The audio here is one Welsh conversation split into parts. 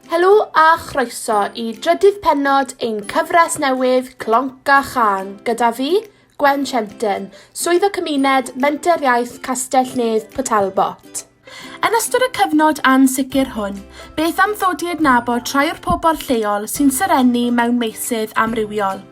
Helo a chroeso i drydydd pennod ein cyfres newydd Clonc a Chân gyda fi, Gwen Shenton, Swyddog Cymuned Menter Iaith Castell-nedd Port Talbot. Yn ystod y cyfnod ansicr hwn, beth am ddod i adnabod rhai o'r pobl lleol sy'n serennu mewn meysydd amrywiol?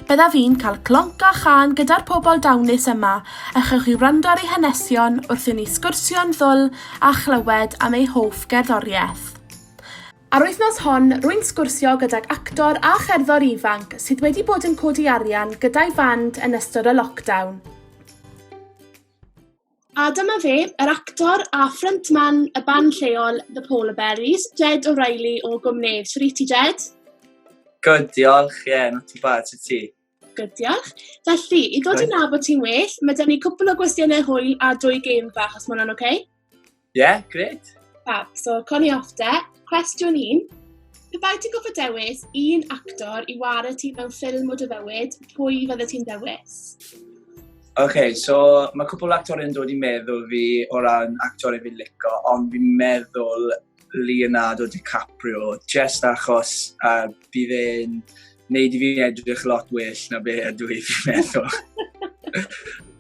Byddaf i'n cael clonc a chân gyda'r pobl dawnus yma a chewch chi wrando ar eu hanesion wrth i ni sgwrsio'n ddwl a chlywed am eu hoff gerddoriaeth. Ar wythnos hon, rwy'n sgwrsio gydag actor a cherddor ifanc sydd wedi bod yn codi arian gyda'i fand yn ystod y lockdown. A dyma fe, yr actor a ffryntman y band lleol The Polar Berries, Jed O'Reilly o Gwmnedd. Sut wyt ti, Jed? Good, diolch. Ie, yeah, not too bad. Sut ti? Good, diolch. Felly, i ddod i nabod ti'n well, mae dyn ni cwpl o gwestiynau hwyl a dwy gêm fach, os mae hwnna'n oce? Okay? Ie, yeah, gret. Fab, so coni off de. Cwestiwn un. Pe bai ti'n goffa dewis un actor i war y ti mewn ffilm o dy fywyd, pwy fydde ti'n dewis? Oce, okay, so mae cwpl actor yn dod i meddwl fi o ran actor i fi lico, ond fi'n meddwl Leonardo DiCaprio, just achos uh, bydd e'n neud i fi edrych lot well na be ydw i fi'n meddwl.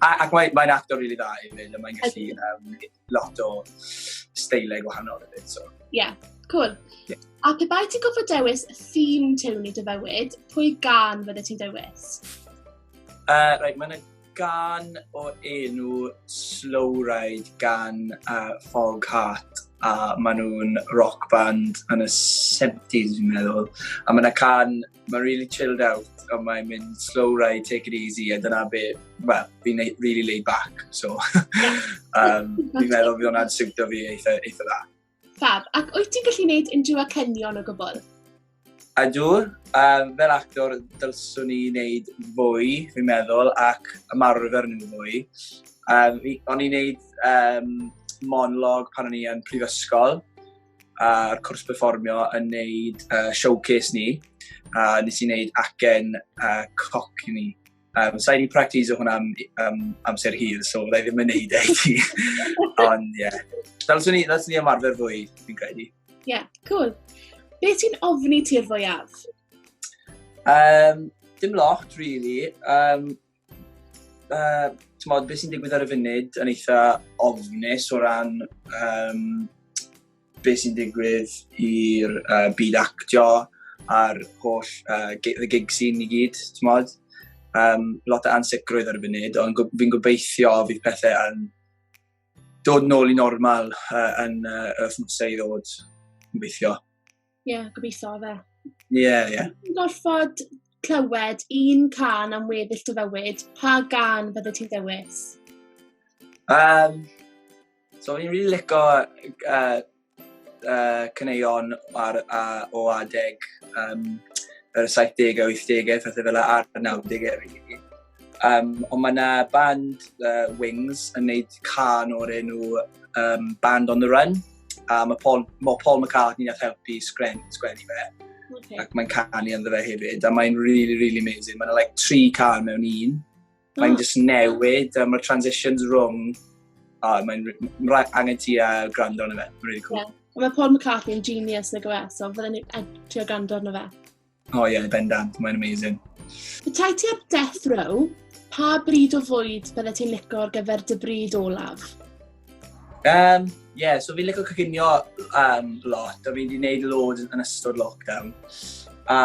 ac mae'n mae actor rili really dda i fynd, a mae'n gallu um, lot o steilau gwahanol i fynd. So. Yeah, cool. Yeah. A pe bai ti'n gofod dewis y theme tewn i dy fywyd, pwy gan fydde ti'n dewis? Uh, right, mae'n gan o enw Slow Ride gan uh, Fog Heart a maen nhw'n rock band yn y 70s fi'n meddwl a mae yna can mae'n really chilled out a mae'n mynd slow ride take it easy a dyna be well fi'n really laid back so um, fi'n meddwl fi hwnna'n siwtio fi eitha, eitha dda Fab, ac wyt ti'n gallu gwneud unrhyw acenion o gwbl? Ydw, um, fel actor dylswn i wneud fwy, fi'n meddwl, ac ymarfer nhw fwy. Um, o'n i'n wneud um, monolog pan o'n i yn prifysgol, a'r cwrs performio yn wneud uh, showcase ni, a nes i wneud acen uh, coc ni. Um, Sa'i wedi practis o hwnna am um, amser hir, so byddai ddim yn neud e i ti. Ond, ie. Yeah. Dylswn ni, dylswn ni ymarfer fwy, fi'n credu. Ie, yeah, cool. Be ti'n ofni ti'r fwyaf? Um, dim lot, really. Um, uh, Tymod, beth sy'n digwydd ar y funud yn eitha ofnus o ran um, beth sy'n digwydd i'r uh, byd actio a'r holl uh, gig, the gig scene i gyd, ti'n modd? Um, lot o ansicrwydd ar y funud, ond fi'n gobeithio fydd pethau yn dod nôl i normal uh, yn uh, wythnosau i ddod, gobeithio. Ie, yeah, gobeithio fe. Ie, yeah, ie. Yeah. Gorfod clywed un can am weddill dy fywyd, pa gan fydde ti'n dewis? Um, so fi'n rili really lico uh, uh, cyneuon ar, uh, o adeg um, yr 70au, 80au, pethau fel ar 90au rili. Um, ond mae yna band uh, Wings yn neud can o'r enw um, Band on the Run. a mae Paul, mae Paul McCartney nath helpu sgren, sgwennu fe. Okay. Ac mae'n canu ynddo fe hefyd, a mae'n really, really amazing. Mae'n like tri can mewn un. Oh. Mae'n just newid, a mae'r transitions rhwng. A oh, mae'n angen ti a gwrando yn y fe. Mae'n really cool. Yeah. Mae Paul McCartney yn genius nag yw e, so fydden ni'n trio gwrando arno fe. O oh, ie, yeah, bendant, mae'n amazing. Petai ti ar death row, pa bryd o fwyd bydde ti'n licio ar gyfer dy bryd olaf? Um, yeah, so fi'n licio coginio um, lot, a fi wedi gwneud loads yn ystod lockdown. A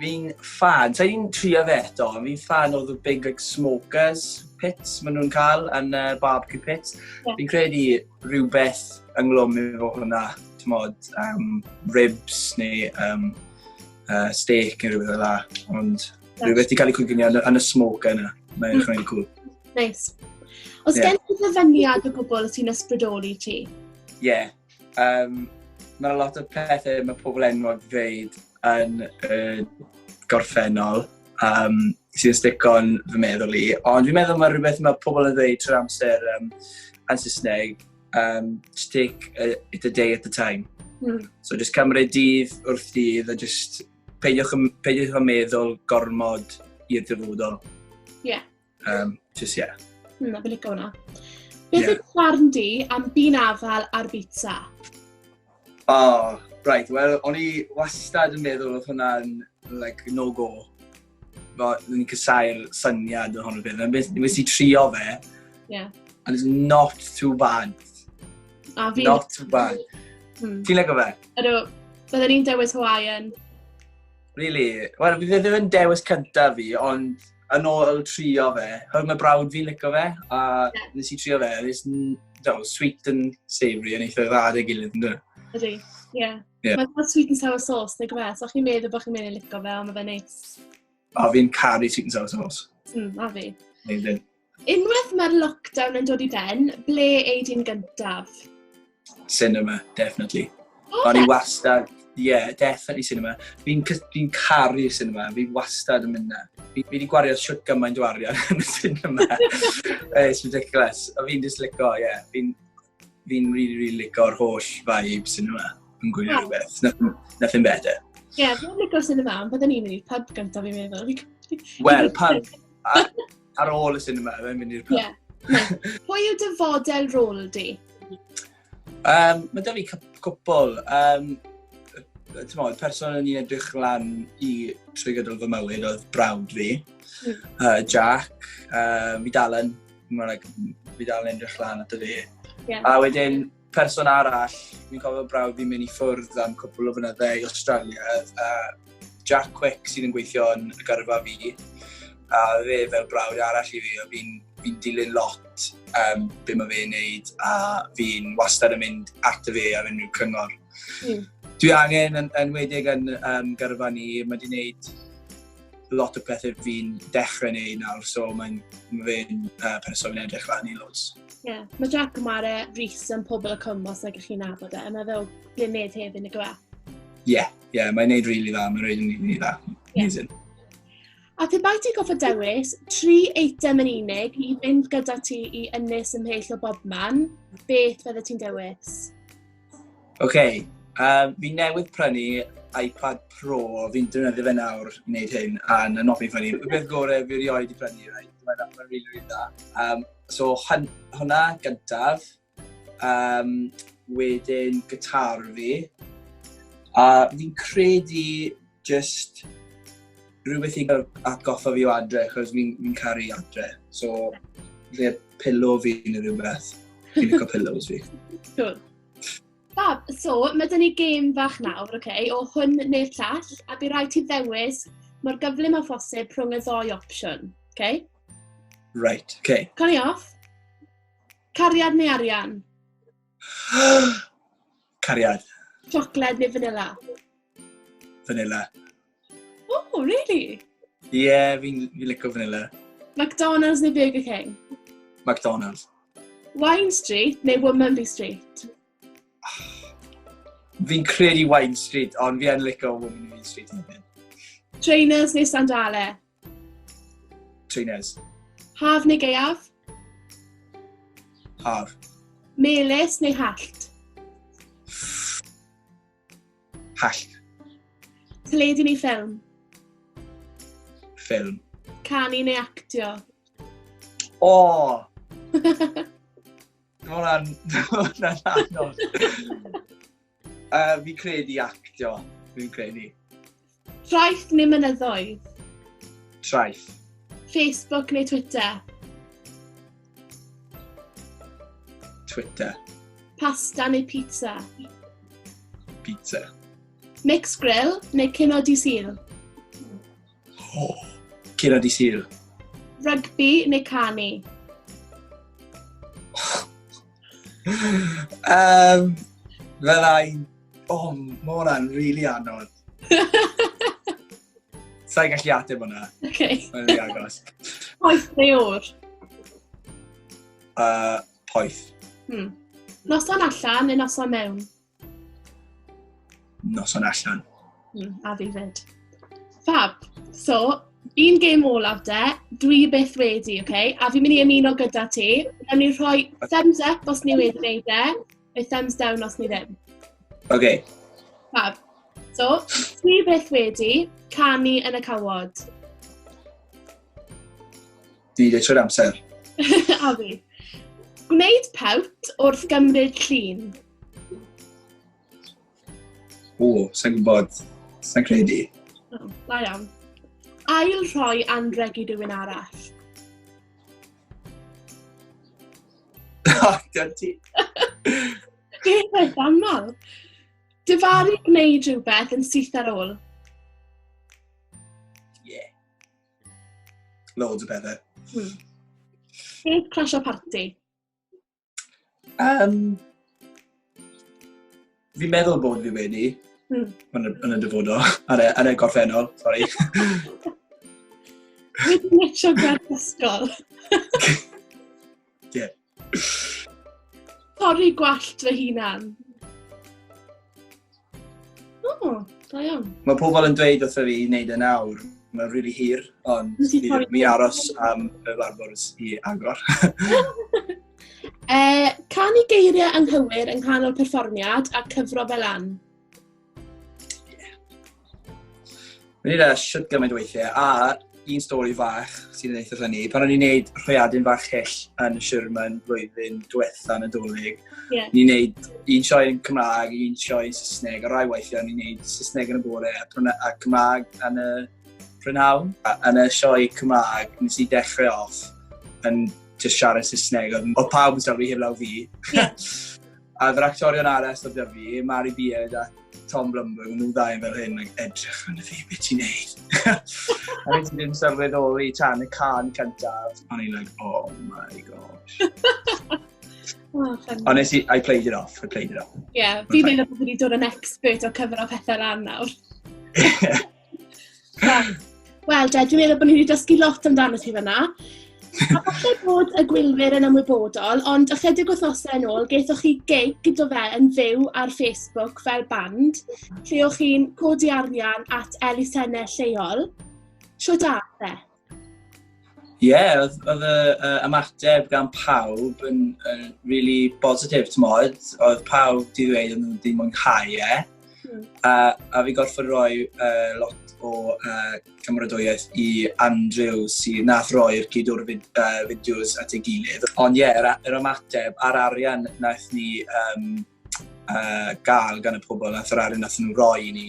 fi'n fan, so fi'n trio fe eto, fi'n fan o the big like, smokers pits maen nhw'n cael yn uh, barbecue pits. Yeah. Fi'n credu rhywbeth ynglwm efo hwnna, ti'n modd, um, ribs neu um, uh, steak neu rhywbeth fel la, ond rhywbeth i cael ei cwgynio yn, yn y smoke yna, mae'n mm. rhaid cool. Nice. Os yeah. gen ti ddyfyniad o gwbl sy'n ysbrydoli ti? Ie. Yeah. Um, Mae lot o pethau mae pobl enwog dweud yn y gorffennol um, sy'n stico'n fy meddwl i. Ond fi'n meddwl mae rhywbeth mae pobl yn dweud trwy'r amser um, yn Saesneg, um, just take a, it a day at a time. Mm. So just cymryd dydd wrth dydd a just peidiwch, peidiwch yn meddwl gormod i'r dyfodol. Ie. Yeah. Um, just, yeah. Hmm, na, fi'n licio hwnna. Beth yeah. yw barn di am byn afal ar bita? Oh, right, wel, o'n i wastad yn meddwl oedd hwnna'n like, no-go. Fel, ni'n cysau'r syniad o hwnnw beth. Nes nes i trio fe, yeah. and it's not too bad. A fi... Not too bad. Hmm. Ti'n lego fe? Ydw, byddwn ni'n dewis Hawaiian. Really? Wel, fi ddim yn dewis cyntaf fi, ond yn ôl trio fe. Hwyr mae brawd fi'n licio fe, a nes i trio fe, a nes i'n dweud, sweet and savoury yn eitha dda dy gilydd, yn dweud. Ydy, ie. Yeah. Yeah. Mae'n sweet and sour sauce, neu gymryd, so chi'n meddwl bod chi'n meddwl licio fe, ond mae fe neis. A fi'n caru sweet and sour sauce. Mm, a fi. Amazing. Unwaith mae'r lockdown yn dod i ben, ble ei di'n gyntaf? Cinema, definitely. Oh, O'n i wastad, ie, yeah, definitely cinema. Fi'n fi caru cinema, fi wastad yn mynd na. Fi wedi gwario siwt gymaint o arian yn y cinema. It's ridiculous. O fi'n just lico, ie. Yeah. Fi'n fi really, really lico'r holl vibe cinema yn gwylio yeah. rhywbeth. Nothing, nothing better. Ie, yeah, fi'n lico cinema, ond byddwn i'n mynd i'r pub gyntaf fi'n meddwl. Wel, pub. Ar ôl y cinema, fe mynd i'r pub. Ie. Pwy yw dy fodel rôl di? Um, mae da fi cwpl. Um, Ti'n modd, person yn i'n edrych lan i trwy gydol fy mywyd oedd brawd fi, mm. uh, Jack, uh, fi dal yn, fi dal yn edrych lan at y fi. Yeah. A wedyn, Person arall, fi'n cofio brawd fi'n mynd i ffwrdd am cwpl o fynydde i Australia, a Jack Quick sydd yn gweithio yn y gyrfa fi, a fe fel brawd arall i fi, fi'n fi dilyn lot um, be mae fe'n neud, a fi'n wastad yn mynd at y fe ar unrhyw cyngor. Mm. Dwi angen, yn, enwedig yn um, gyrfa ni, mae wedi gwneud lot o pethau fi'n dechrau neud nawr, so mae'n fe'n uh, person yn edrych lan i loads. Ie, yeah. mae Jack yn ware Rhys yn pobl y cwm os nag ych chi'n nabod e, a mae fel glined hefyd yn y gwe. Ie, yeah, yeah, mae'n neud rili really dda, mae'n rili really, really dda. Amazing. Yeah. A pe bai ti goffa dewis tri eitem yn unig i fynd gyda ti i ynnes ymhell o bob man, beth fydde ti'n dewis? OK, um, fi newydd prynu iPad Pro, fi'n defnyddio fe nawr wneud hyn, a na noffi ffynnu. Y beth gore fi rioed i prynu, right? Mae'n ma rili, really, really da. Um, so, hwnna gyntaf, um, wedyn gytar fi, a fi'n credu just rhywbeth i atgoffa fi o adre, chos fi'n fi caru adre. So, fe pillow fi neu rhywbeth. Fi'n licio pillows fi. Cool. Fab, so, mae dyn ni gêm fach nawr, oce, okay, o hwn neu'r llall, a bydd rhaid ti ddewis mor gyflym o phosib rhwng y ddoi opsiwn, oce? Okay? Right, oce. Okay. Coni off. Cariad neu arian? Cariad. Siocled neu vanilla? Vanilla. Oh, really? Ie, yeah, fi'n fi licio vanilla. McDonald's neu Burger King? McDonald's. Wine Street neu Womanby Street? Fi'n credu Wine Street, ond fi yn licio Womanby Street hefyd. Trainers neu sandale? Trines. Haf neu gaeaf? Haf. Melys neu hallt? Hallt. Teledu neu ffilm? Ffilm. Canu neu actio? O! Oh! Mae hwnna'n anodd. Uh, fi credu actio, fi'n credu. Traeth neu mynyddoedd? Traeth. Facebook neu Twitter? Twitter. Pasta neu pizza? Pizza. Mix grill neu cino di syl? O, cyrra di syl. Rygbi neu canu? um, fel ein... O, oh, mae hwnna'n rili really anodd. Sa'n gallu ateb hwnna. Oce. Okay. Mae'n rili agos. Poeth neu o'r? Uh, poeth. Hmm. Noson allan neu noson mewn? noson allan. Mm, a fi fyd. Fab. So, un gêm olaf de, dwi byth wedi, oce? Okay? A fi'n mynd i ymuno gyda ti. Rhaid ni rhoi thumbs up os ni wedi gwneud de, neu thumbs down os ni ddim. Oce. Okay. Fab. So, dwi byth wedi canu yn y cawod. Fi de trwy'r amser. A fi. Gwneud pawt wrth gymryd llun. O, sa'n gwybod. Sa'n credu. O, da iawn. Ail rhoi anreg i rywun arall. O, dyna ti. Beth oedd aml? Dyfaru gwneud rhywbeth yn syth ar ôl. Loads o bethau. Hmm. Beth crash o party? Um, fi'n meddwl bod fi wedi, hmm. yn, y, yn y dyfodol, yn y, yn y gorffennol, sori. Wedi metro gwaith ysgol. Ie. Torri gwallt fy hunan. O, oh, da iawn. Mae pobl yn dweud wrth fi i wneud yn awr. Mae'n rili really hir, ond mi aros am y larbwrs i agor. e, canu geiriau anghywir yng nghanol perfformiad a cyfro fel an. Mae'n ei ddeall siwt gymaint o weithiau, a un stori fach sy'n yn eitha ffynnu. Pan o'n i'n neud rhwyadyn fach hyll yn Sherman flwyddyn diwetha yn y dolyg, yeah. ni'n neud un sioe yn Cymraeg, un sioe yn Saesneg, a rai weithiau ni'n neud Saesneg yn y bore a, a Cymraeg yn y prynhawn. Yn y sioe Cymraeg, nes i dechrau off yn just siarad Saesneg, oedd pawb yn sylwi heblaw fi. Yeah. A yr actorion arall oedd da fi, Mari Beard a Tom Blumberg, nhw ddau yn fel hyn, like, edrych yn y fi, beth ti'n neud? a nes i ddim sylweddoli tan y can cyntaf. O'n i'n like, oh my gosh. Honestly, I played it off, I played it off. Ie, yeah, fi'n meddwl bod fi wedi dod yn expert o cyfro pethau lan nawr. Wel, de, dwi'n meddwl bod ni wedi dysgu lot amdano chi fyna. A falle bod y gwylwyr yn ymwybodol, ond ychydig wythnosau yn ôl, gaethoch chi gig gyda fe yn fyw ar Facebook fel band, lle o'ch chi'n codi arian at elusennau lleol. Sio da, fe? Ie, yeah, oedd, oedd y uh, ymateb gan pawb yn, yn really bositif, ti'n modd. Oedd pawb di ddweud yn ddim mwynhau e. Mm. A, a fi gorfod rhoi uh, lot o uh, cymrodwyaeth i Andrew sy'n nath roi'r cyd o'r fid, uh, fideos at ei gilydd. Ond ie, yeah, yr, yr ymateb a'r arian naeth ni um, uh, gael gan y pobl nath yr arian nath nhw roi i ni,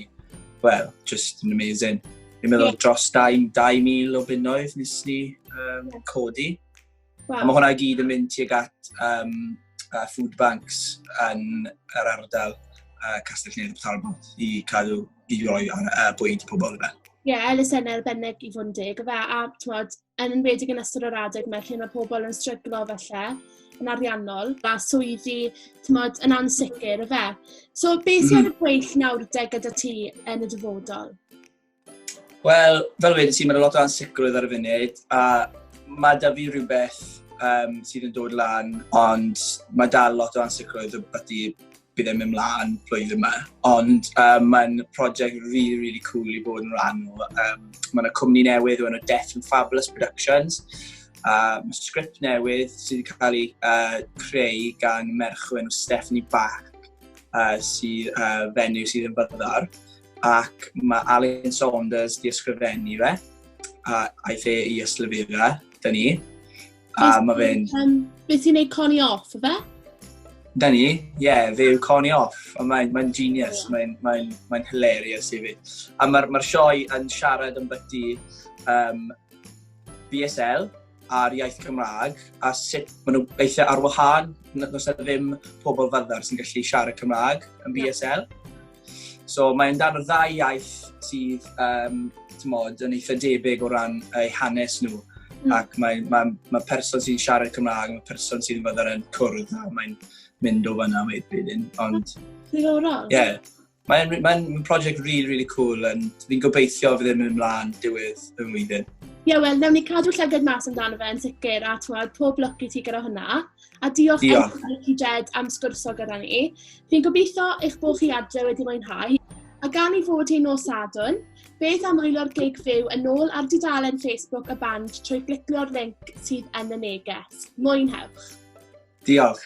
well, just yn amazing. Fi'n meddwl yeah. dros 2,000 o bunnoedd nes ni um, codi. Wow. A mae hwnna gyd yn mynd tuag at um, uh, food banks yn yr ardal uh, Castell Nedd Talbot i cadw i roi ar uh, bwyd i pobl yna. Ie, yeah, elusen arbennig i fod yn deg, a, a tmod, yn enwedig yn ystod yr adeg 'ma lle mae pobl yn stryglo falle yn ariannol, a swyddi, tmod, yn ansicr, efe? So, beth sy'n mm -hmm. gweill nawr de gyda ti yn y dyfodol? Wel, fel wedi ti, mae'n lot o ansicrwydd ar y funud, a mae da fi rhywbeth um, sydd yn dod lan, ond mae dal lot o ansicrwydd o beth i bydd e'n mynd mlaen blwyddyn yma. Ond um, mae'n prosiect really, really cool i bod yn rhan o. Um, mae yna cwmni newydd o'n o Death and Fabulous Productions. Uh, mae sgript newydd sydd wedi cael ei uh, creu gan merch o'n Stephanie Bach uh, sydd uh, fenyw sydd yn byddar. Ac mae Alan Saunders di ysgrifennu fe a aeth e i yslyfera, dyn ni. A mae fe'n... Um, beth ti'n neud Connie Off, o fe? Da ni, ie, yeah, fe yw Connie Off. Ond mae'n mae genius, yeah. mae'n mae mae hilarious i fi. A mae'r ma sioe yn siarad yn byty um, BSL, ar iaith Cymraeg a sut maen nhw eithaf ar wahân nos na ddim pobl fyddar sy'n gallu siarad Cymraeg yn BSL. So mae'n dan y ddau iaith sydd um, tymod, yn eitha debyg o ran eu hanes nhw. Mm. Ac mae, mae, mae person sy'n siarad Cymraeg, mae person sy'n fyddar yn cwrdd, a mae'n mynd o fyna wedyn. Ond... Diddorol. Ie. Yeah. Mae'n mae prosiect really, really cool, and fi'n gobeithio fydd yn mynd ymlaen diwedd y flwyddyn. Ie, yeah, wel, newn ni cadw llygad mas amdano fe yn sicr, a twad, pob lwc i ti gyda hwnna. A diolch, diolch. Emma Ricky Jed am sgwrso gyda ni. Fi'n gobeithio eich bod chi adre wedi mwynhau. A gan i fod hi'n nos sadwn, beth am wylo'r gig fyw yn ôl ar dudalen Facebook y band trwy glicio'r link sydd yn y neges. Mwynhewch! Diolch.